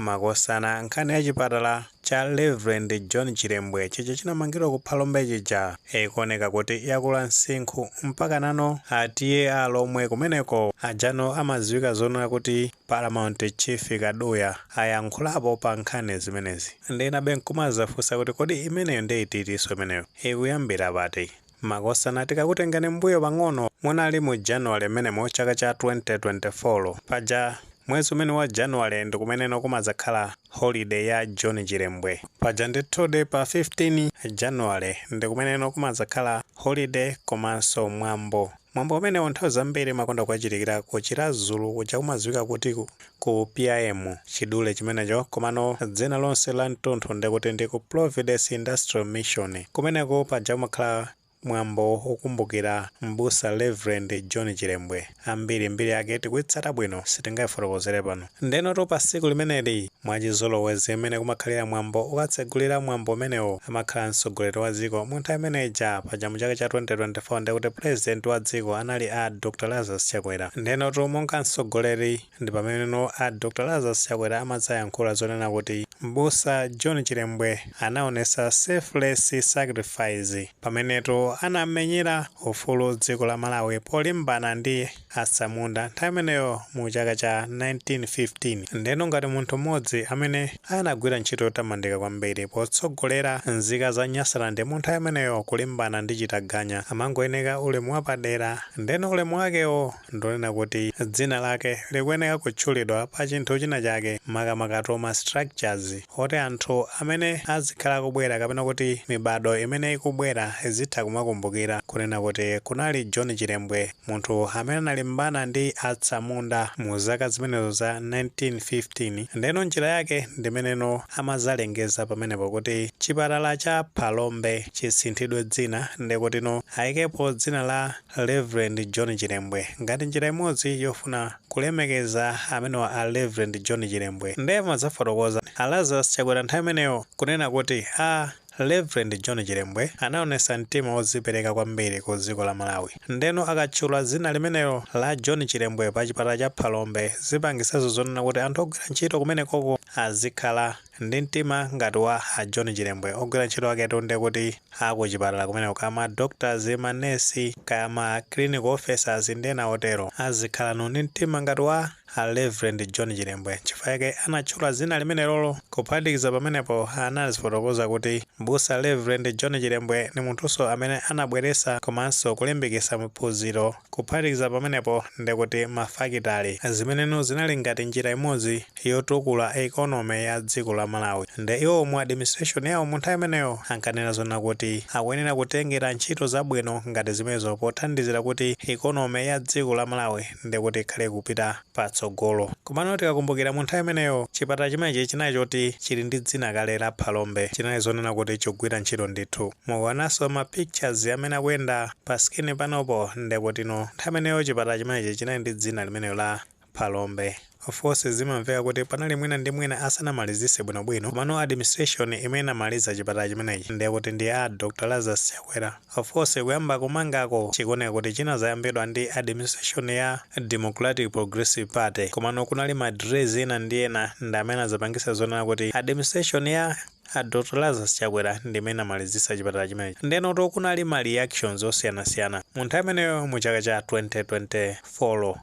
Makosana nkhani ya chipatala cha Rev John Chilembwe chija chinamangidwa ku Phalombe chija ikuoneka kuti yakula msinkhu mpakanano a TA Alomwe kumeneko ajano amadziwika zonena kuti Paramount Chief Kaduya ayankhulapo pa nkhani zimenezi. Nde inabe nkumadzafunsa kuti kodi imeneyo nde ititinso imeneyo? Ikuyambira pati? Makosana tikakutengeni m'mbuyo pang'ono munali mu January mmenemu chaka cha 2024 paja mwezi umene wa January ndikumeneno kumadzakhala holiday ya John Chilembwe paja ndithudi pa 15 January ndikumeneno kumadzakhala holiday komanso mwambo Mwambo umenewu nthawi zambiri umakonda kukachitikira ku Chiradzulu kuja kumadziwika kuti ku PIM, chidule chimenecho, komano dzina lonse la mtunthu ndekuti ndi ku Providence Industrial Mission. Kumeneku paja kumakhala mwambo wokumbukira M'busa Rev. John Chilembwe. Ambiri mbiri yake tikuitsata bwino, sitingaifotokozere pano. Ndenotu pa tsiku limeneli, mwachizolowezi mmene kumakhalira mwambo okatsegulira mwambo umenewu amakhala mtsogoleri wa dziko mu nthawi imene ija, paja mu chaka cha 2024 ndiye kuti pulezidenti wa dziko anali a Dr Lazarus Chakwera. Ndenotu monga mtsogoleri ndi pameneno a Dr Lazarus Chakwera amadzayankhula zonena kuti m'busa John Chilembwe anaonetsa selfless sacrifice pamenetu anamenyera ufulu dziko la Malawi polimbana ndi atsamunda nthawi imeneyo mu chaka cha 1915. Ndiyeno ngati munthu mmodzi amene anagwira ntchito yotamandika kwambiri potsogolera nzika za Nyasaland mu nthawi imeneyo kulimbana ndi chitaganya amangoyeneka ulemu wapadera, ndiyeno ulemu wakewo ndi wonena kuti dzina lake likuyeneka kutchulidwa pa chinthu china chake, makamakatu ma structures oti anthu amene azikhala akubwera kapena kuti mibado imene ikubwera izitha kumakumbukira kunena kuti kunali John Chilembwe. Munthu amene analimbana ndi atsamunda mu zaka zimenezo za 1915, ndeno njira yake ndimeneno amadzalengeza pamenepo kuti chipatala cha Phalombe chisinthidwe dzina ndikutino ayikepo dzina la Rev. John Chilembwe ngati njira imodzi yofuna kulemekeza amenewa a Rev. John Chilembwe nde amadzafotokoza a Lazarus Chakwera nthawi imeneyo kunena kuti a Rev John Chilembwe anaonesa mtima ozipereka kwambiri ku dziko la Malawi ndeno akatchula zina limenelo la John Chilembwe pa chipatala cha Phalombe zipangiseso zonena kuti anthu ogwira ntchito kumenekoko azikhala ndi mtima ngati wa a John Chilembwe ogwira ntchito aketu ndekuti a ku chipatala kumeneko kaya ma doctors, ma nurse kaya ma clinical officers ndi ena otero azikhalano ndi mtima ngati wa a Rev. John Chilembwe nchifukwa chake anatchula dzina limenelolo. Kuphatikiza pamenepo, anazifotokoza kuti Mbusa Rev. John Chilembwe ni munthunso amene anabweretsa komanso kulimbikitsa maphunziro. Kuphatikiza pamenepo ndi kuti ma fakitale, zimeneno zinali ngati njira imodzi yotukula economy ya dziko la Malawi. Nde iwowo mu administration yawo mu nthawi imeneyo ankanena zonna kuti akuyenera kutengera ntchito zabwino ngati zimenezo pothandizira kuti economy ya dziko la Malawi ndi kuti ikhale ikupita patsogolo. Komano tikakumbukira mu nthawi imeneyo chipatala chimenechi chinali choti chili ndi dzina kale la Phalombe, chinali zonena kuti chikugwira ntchito ndithu. Mukuonamo ma pictures amene akuyenda pa screen panopo, ndiye kutino nthawi imeneyo chipatala chimenechi chinali ndi dzina limenelo la Phalombe. Of course zimamveka kuti panali mina ndi mina asanamalizise bwino bwino komano administration imene inamaliza chipatala chimenechi ndiye kuti ndi a Dr Lazarus Chakwera. Of course kuyamba kumangako chikuoneka kuti chinazayambidwa ndi administration ya Democratic Progressive Party komano kunali ma delays ena ndi ena ndi amene anazapangisa zonena kuti administration ya a Dr Lazarus Chakwera ndi imene inamalizisa chipatala chimenechi. Ndiyenotu kunali ma reactions osiyanasiyana mu nthawi imeneyo mu chaka cha 2024.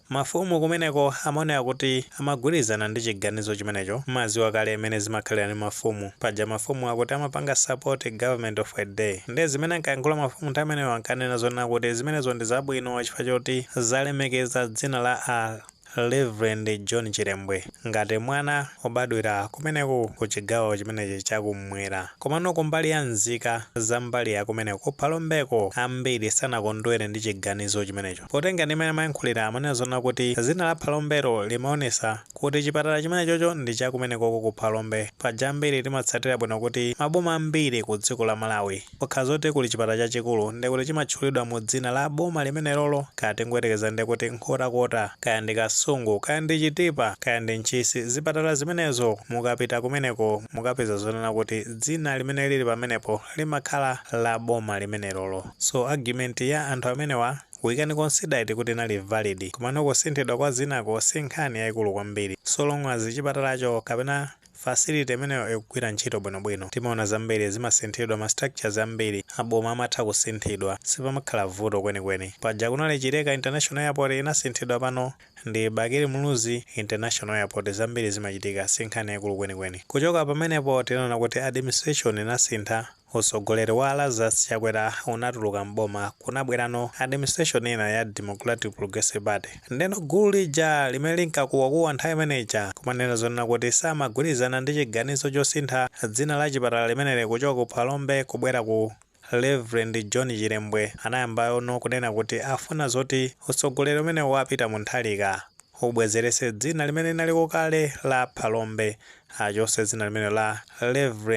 Mafumu kumeneko amaoneka kuti amagwirizana ndi chiganizo chimenecho. Mmaziwa kale mmene zimakhalira ndi mafumu. Paja mafumu akuti amapanga support government of the day. Ndiye zimene ankayankhula mafumu nthawi imeneyo ankanena zonena kuti zimenezo ndi zabwino chifukwa choti zalemekeza dzina la a Rev. John Chilembwe ngati mwana obadwira kumeneku ku chigawo chimenechi cha kummwera. Komano kumbali ya nzika za mbali ya kumeneko ku Phalombeko ambiri sanakondwere ndi chiganizo chimenecho. Potengera ndi mmene amayankhulira amanena zonena kuti zina la Phalombelo limaonesa kuti chipatala chimenechocho ndi cha kumenekoko ku phalombe paja ambiri timatsatira bwino kuti maboma ambiri ku dziko la Malawi kukakhala zoti kuli chipatala chachikulu nde kuti chimatchulidwa mu dzina la boma limenelolo kaya tingoyerekeza nde kuti Nkhotakota kaya ndi Kasungu kaya ndi Chitipa kaya ndi Ntchisi zipatala zimenezo mukapita kumeneko mukapeza zonena kuti dzina limene lili pamenepo limakhala la boma limenelolo so argument ya anthu amenewa we can consider it kuti inali valid komano kusinthidwa kwa dzinako si nkhani yaikulu kwambiri so long as chipatalacho kapena facility imeneyo ikugwira ntchito bwinobwino. Timaona zambiri zimasinthidwa ma structures ambiri aboma amatha kusinthidwa sipamakhala vuto kwenikweni. Paja kunali Chileka International Airport inasinthidwa pano ndi bakili muluzi international airport zambiri zimachitika sinkhani yaikulu kwenikweni kuchoka pamenepo tinaona kuti administration inasintha utsogoleri wa a Lazarus chakwera unatuluka m'boma kunabwerano administration ina ya democratic progressive party ndeno gulu lija limene linkakuwakuwa nthawi imene ija kumanena zonena kuti samagwirizana ndi chiganizo chosintha dzina la chipatala limeneli kuchoka ku phalombe kubwera ku Rev John Chilembwe anayambaono kunena kuti afuna zoti utsogoleri umenewu wa Peter Mutharika ubwezerese dzina limene linaliko kale la Phalombe achose dzina limenelo la Rev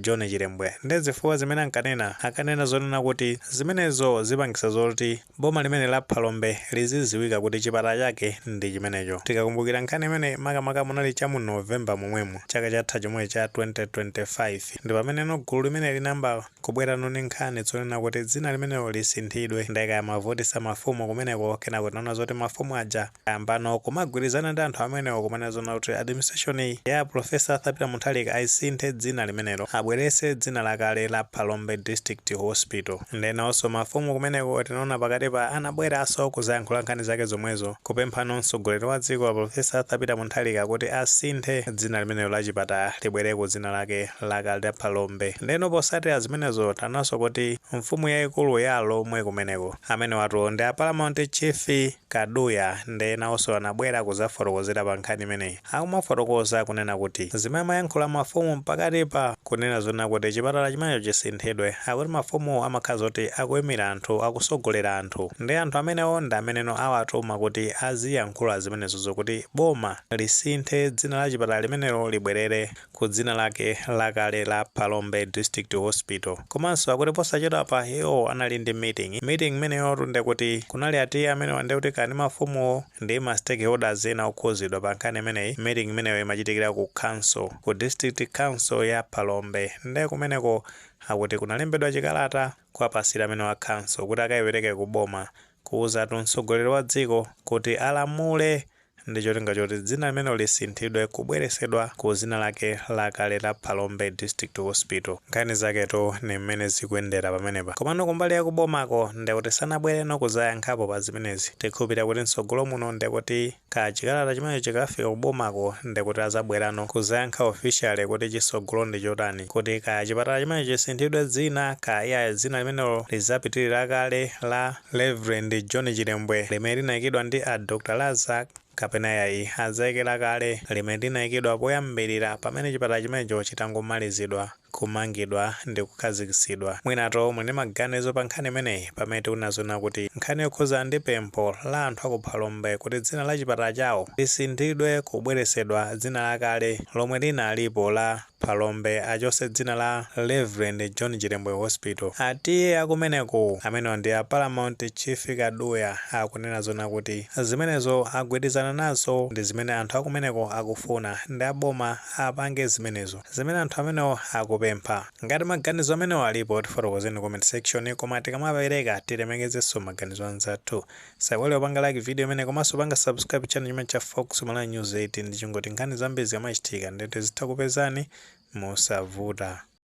John Chilembwe nde zifukwa zimene ankanena ankanena zonena kuti zimenezo zipangisa zoti Boma limeneli la Phalombe liziziwika kuti chipatala chake ndi chimenecho. Tikakumbukira nkhani imeneyi makamaka munali cha mu November momwemu chaka chatha chomwe cha 2025 ndi pameneno gulu limeneli linayamba kubwerano ndi nkhani zonena kuti dzina limenelo lisinthidwe. Ndiye kaya amavutitsa mafumu kumeneko kenako tinaona zoti mafumu aja ayambano kumagwirizana ndi anthu amenewo kumanena zonena kuti administration ya a Prof. Arthur Peter Mutharika ayisinthe dzina limenelo abweretse dzina lakale la Phalombe District Hospital. Nde nawonso mafumu kumeneko tinaona pakatipa anabweraso kuzayankhula nkhani zake zomwezo kupemphano mtsogoleri wa dziko a Prof. Arthur Peter Mutharika kuti asinthe dzina limenelo la chipatala libwere ku dzina lake lakale la Phalombe. Ndeno posatira zimenezo taonanso kuti mfumu yaikulu ya a Lhomwe kumeneko amenewatu ndi a Paramount Chief Kaduya ndiye nawonso anabwera kuzafotokozera pa nkhani imeneyi. Akumafotokoza kunena kuti zimene amayankhula mafumu mpakatipa kunena zonena kuti chipatala chimenecho chisinthidwe akuti mafumuwo amakhala zoti akuimira anthu, akusogolera anthu. Nde anthu amenewo ndi ameneno awatuma kuti aziyankhula zimenezozo kuti boma lisinthe dzina la chipatala limenelo libwerere ku dzina lake lakale la Phalombe District Hospital. Komanso akuti posachedwapa iwo anali ndi meeting. Meeting imeneyotu ndekuti kunali ati amenewa ndekuti kaya ndi mafumuwo ndi ma stakeholders ena okhuzidwa pa nkhani imeneyi. Meeting imeneyo imachitikira ku council, ku district council ya Phalombe. Nde kumeneko akuti kunalembedwa chikalata kuwapasira amenewa a council kuti akaipereke ku boma kuuzatu mtsogoleri wa dziko kuti alamule ndi cholinga choti dzina limenelo lisinthidwe kubweresedwa ku zina lake lakale la Phalombe District Hospital. Nkhani zaketu ndi mmene zikuyendera pamenepa. Komano kumbali ya ku bomako ndekuti sanabwereno kuzayankhapo pa zimenezi. Tikhulupilira kuti m'tsogolo muno ndekuti ka chikalata chimenecho chikafika ku bomako ndekuti azabwerano kuzayankha officially kuti chitsogolo ndi chotani kuti kaya chipatala chimenecho chisinthidwe dzina kaya iyayi dzina limenelo lizapitilire lakale la Rev John Chilembwe limene linaikidwa ndi a Dr Lazarus kapena yayi adzaike lakale limene linaikidwa poyambilira pamene chipatala chimenecho chitangomalizidwa kumangidwa ndi kukhazikitsidwa. Mwinatu muli ndi maganizo pa nkhani imeneyi pamene tikunena zonena kuti nkhani yokhudzana ndi pempho la anthu a ku Phalombe kuti dzina la chipatala chawo lisinthidwe kubweretsedwa dzina lakale lomwe linalipo la Phalombe achotse dzina la Reverend John Chilembwe Hospital atiye akumeneko amenewa ndi a Paramount Chief Kaduya akunena zona kuti zimenezo agwirizana nazo ndizimene anthu akumeneko akufuna ndi a boma apange zimenezo zimene anthu amenewa akupempha ngati maganizo amenewa alipo tifotokozeni comment section koma tikamapeleka tilemekezenso maganizo anzathu Osaiwala kupanga like video imeneyi komanso kupanga subscribe channel chimenechi cha Fox Malawi News 18 ndicholinga choti nkhani zambiri zikamachitika ndiye tizitha kupezani mosavuta.